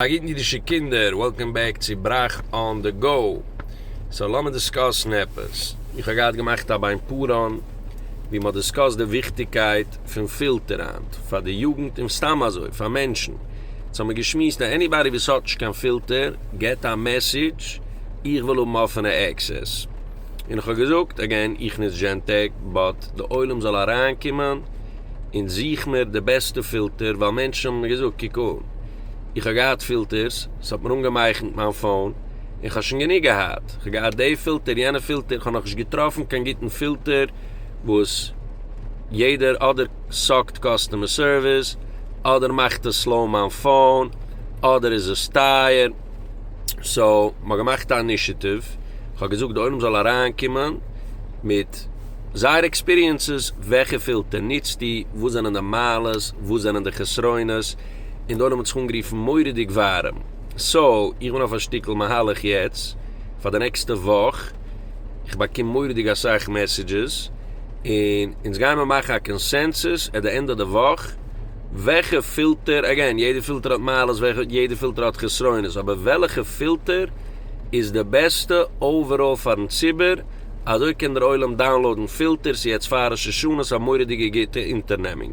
א גוטן אידישע קינדער, וועלקאם בעק צו בראך אן די גאו. סאו לאמיר דיסקאסן עפעס. איך האב געהאט געמאכט א ביין פאראן ווי מען האט דיסקאסט די וויכטיגקייט פון פילטער היינט פאר די יוגנט און סתם אזוי פאר מענטשן. יעצט האמיר געשמועסט אז עניבאדי וואס האט נישט קיין פילטער געט א מעסעדזש איך וויל האבן אפענע עקסעס און איך האב געזאגט אגעין איך נוץ דזשענטעק באט די עולם זאל אריינקומען און זוך מיר די בעסטע פילטער ווייל מענטשן האבן מיר געזאגט קוק אן איך האב געהאט פילטערס, ס'האט מיר אנגעמייכנט מיין פאון, און כ'האב שוין גענוג געהאט, כ'האב געהאט די פילטער יענע פילטער, כ'האב נאכנישט געטראפן קיין גוטן פילטער וואס יעדער אדער סאקט קאסטומער סערוויס, אדער מאכט עס סלאו מיין פאון, אדער איז עס טייער, סאו מ'האט געמאכט א אנישיטיוו, כ'האב געזאגט די עולם זאל אריינקומען מיט זייער עקספיריענסעס, וועלכע פילטער נוצטו, וואס זענען די מעלות, וואס זענען די חסרונות, און די עולם האט זיך אנגערופן מורא'דיג ווארעם. סאו, איך בין אויף א שטיקל מהלך יעצט, פאר די נעקסטע וואך, איך באקום מורא'דיג אסאך מעסעדזשעס, און אונז גיימער מאכן א קאנסענסוס עט די ענד אוו די וואך, וועלכע פילטער, אגעין, יעדע פילטער האט מעלות, יעדע פילטער האט חסרונות, אבער וועלכע פילטער איז די בעסטע אוועראל פארן ציבור, אזוי קען דער עולם דאונלאודן פילטערס יעצט פאר ראש השנה, ס'איז א מורא'דיגע גוטע אונטערנעמונג.